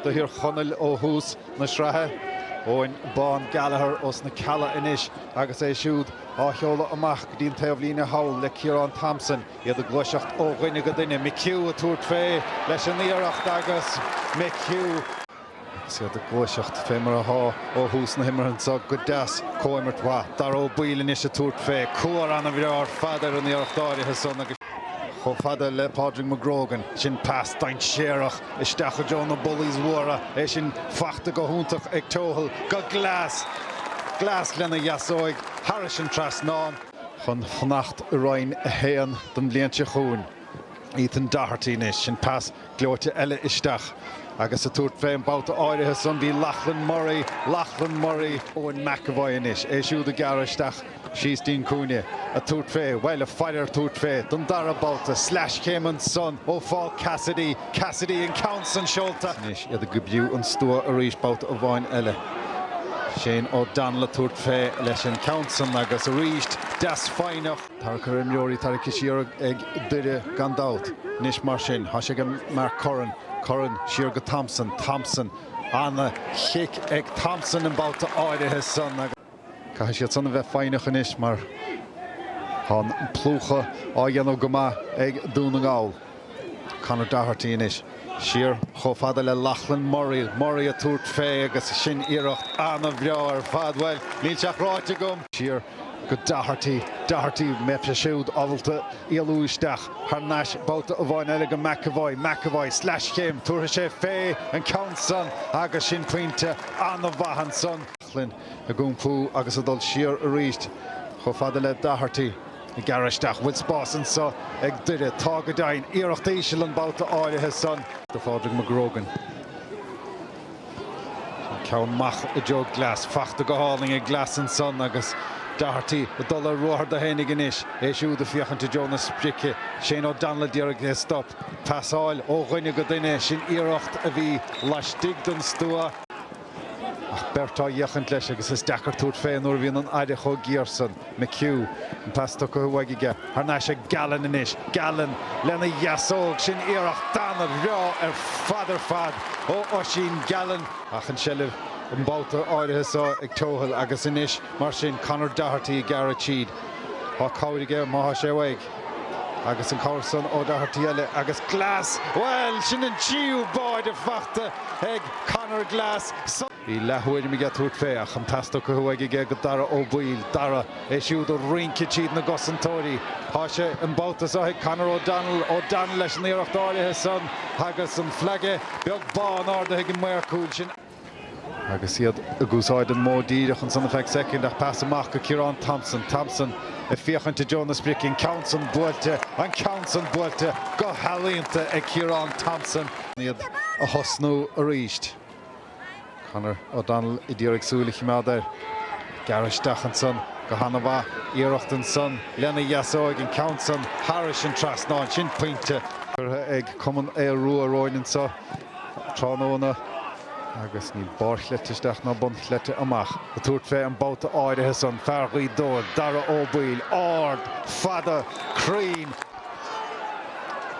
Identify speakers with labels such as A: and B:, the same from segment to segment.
A: do Thír Chonaill ó thús na sraithe. Eoghan Bán Gallagher ós na Cealla anois agus é siúd á sheoladh amach go dtí an taobhlíne thall le Ciarán Thompson. Iad ag gluaiseacht ó dhuine go duine. McHugh ag tabhairt fé leis an iarracht agus McHugh. Agus iad ag gluaiseacht fé mar athá ó thús na himeartha anso go deas. Comhimirt mhaith. Dáire Ó Baoill anois ag tabhairt fé. Cuar ana-bhreá ar fad ar an iarracht áirithe san agus. chomh fada le Pádraig McGrogan. Sin pas dainséarach. Isteach i dtreo na bullies mhóra, é sin fachta go hiontach ag Tohill. Go Glass! Glass lena dheasóig thairis an trasnán. Chun fanacht i Roinn 1 don bhliain seo chugainn, Ethan Doherty anois. Sin pas gleoite eile isteach. Agus ag tabhairt fé an babhta áirithe san, bhí Lachlan Murray, Lachlan Murray, Eoin McEvoy anois. É siúd ag gearradh isteach. Síos dtí'n cúinne. Ag tabhairt fé, bhuel, ag faire ar tabhairt fé, don dara babhta. Sleaschéim ansan ó Phaul Cassidy. Cassidy, an ceann san seolta. Anois iad ag oibriú an stua arís, babhta amháin eile. Shane O'Donnell ag tabhairt fé, leis an ceann san agus arís, deas foighneach. Tarrac ar imreoirí, tarraicthe siar ag Doire gan dabht. Anois mar sin, thá sé ag Mark Curran. Curran, siar go Thompson. Thompson, ana-chic ag Thompson an babhta áirithe san agus. Caithfidh siad san a bheith foighneach anois mar thá an plúchadh á dhéanamh go maith ag Dún na nGall. Conor Doherty anois. Siar chomh fada le Lachlan Murray. Murray ag tabhairt fé agus sin iarracht ana-bhreá ar fad. Bhuel, níl sé ach ráite agam! Siar go Doherty. Doherty, mbeidh sé siúd ábalta éalú isteach thar n-ais babhta amháin eile go McEvoy. McEvoy, sleaschéim, tabharfaidh sé fé an ceann san agus sin pointe ana-mhaith ansan. Loughlin ag iompú agus ag dul siar arís chomh fada le Doherty. Ag gearradh isteach, bhfuil spás anso ag Doire? Tá go deimhin. Iarracht íseal an babhta áirithe san. do Phádraig McGrogan. Sin ceann amach i dtreo Glass. Fachta go hálainn ag Glass ansan agus Doherty ag dul ar ruathar dó fhéinig anois. É siúd ag féachaint i dtreo na sprice. Shane O'Donnell ag iarraidh é a stop. Pasáil ó dhuine go duine. Sin iarracht a bhí laistigh den stua. Ach beirt á fhéachaint leis agus is deacair tabhairt fé nuair a bhíonn an aire chomh géar san. McHugh, an pas tugtha uaidh aige, thar n-ais ag Gallen anois. Gallen lena dheasóg, sin iarracht ana-bhreá ar fad ar fad ó Oisín Gallen. Ach an tseilbh an babhta áirithe so ag Tohill agus anois mar sin Conor Doherty ag gearradh tríd. Tá cabhair aige má thá sé uaidh. Agus an cabhair san ó Doherty eile agus Glass! Bhuel, sin an tríú báide fachta ag Conor Glass. Bhí leath-thuairim aige tabhairt fé, ach an pas tugtha uaidh aige go Dara Ó Baoill, Dara, é siúd ag rince tríd na gcosantóirí. Thá sé an babhta so ag Conor O'Donnell, O'Donnell leis an iarracht áirithe san agus an flaige beag bán ardaithe ag an maor cúil sin. Agus iad ag úsáid an modh díreach ansan ar feadh soicind ach pas amach go Ciarán Thompson. Thompson ag féachaint i dtreo na sprice, an ceann san buailte, an ceann san buailte go healaíonta ag Ciarán Thompson. Iad a thosnú arís. Conor O'Donnell ag iarraidh súil a chimeád air. Ag gearradh isteach ansan go hana mhaith. Iarracht ansan lena dheasóig, an ceann san thairis an trasnán. Sin pointe. Curtha ag Cumann Aodh Rua romhainn anso. tráthnóna agus níl barrchleite isteach ná bunchleite amach ag tabhairt fé an babhta áirithe san. Fear Ghaoth Dobhair, Dara Ó Baoill, ard, fada, cruinn.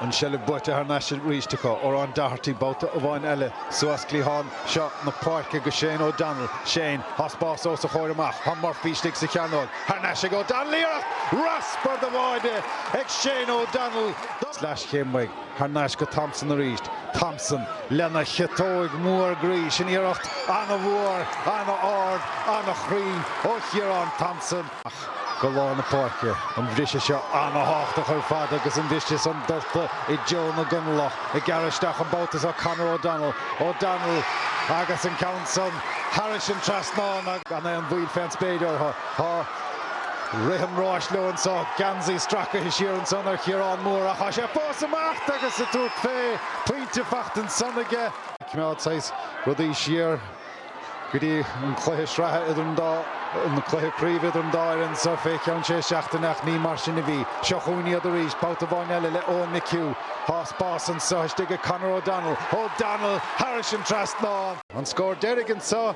A: An tseilbh buaite thar n-ais arís acu. Odhrán Doherty, babhta amháin eile suas cliathán seo na páirce go Shane O'Donnell. Shane, thá spás os a chomhair amach. Thá Murphy istigh sa chearnóg. Thar n-ais ag O'Donnell, iarracht raspar de bháide ag Shane O'Donnell. Sleaschéim uaidh. Thar n-ais go Thompson arís. Thompson lena chiotóig mhór groí. Sin iarracht an-mhór, an-ard, an-chruinn ó Chiarán Thompson. Ach go lár na páirce. An bhriseadh seo an-tábhachtach ar fad agus an bhriseadh san dulta i dtreo na gConallach. Ag gearradh isteach an babhta so Conor O'Donnell. O'Donnell agus an ceann san thairis an trasnán gan aon mhoill fén spéir orthu. Thá. Rith an ráis leo anso. Geansaí stracaithe siar ansan ar Chiarán Moore ach thá sé fós amach agus ag tabhairt fé, pointe fachta ansan aige. Ag coimeád saghas rudaí siar go dtí an cluiche sraithe idir an dá, an cluiche craoibhe idir an dá fhoireann anso fé cheann sé seachtaine ach ní mar sin a bhí. Seo chugainn iad arís, babhta amháin eile le Eoin McHugh. Thá spás anso istigh ag Conor O'Donnell. O'Donnell thairis an trasnán. An scór deiridh anso.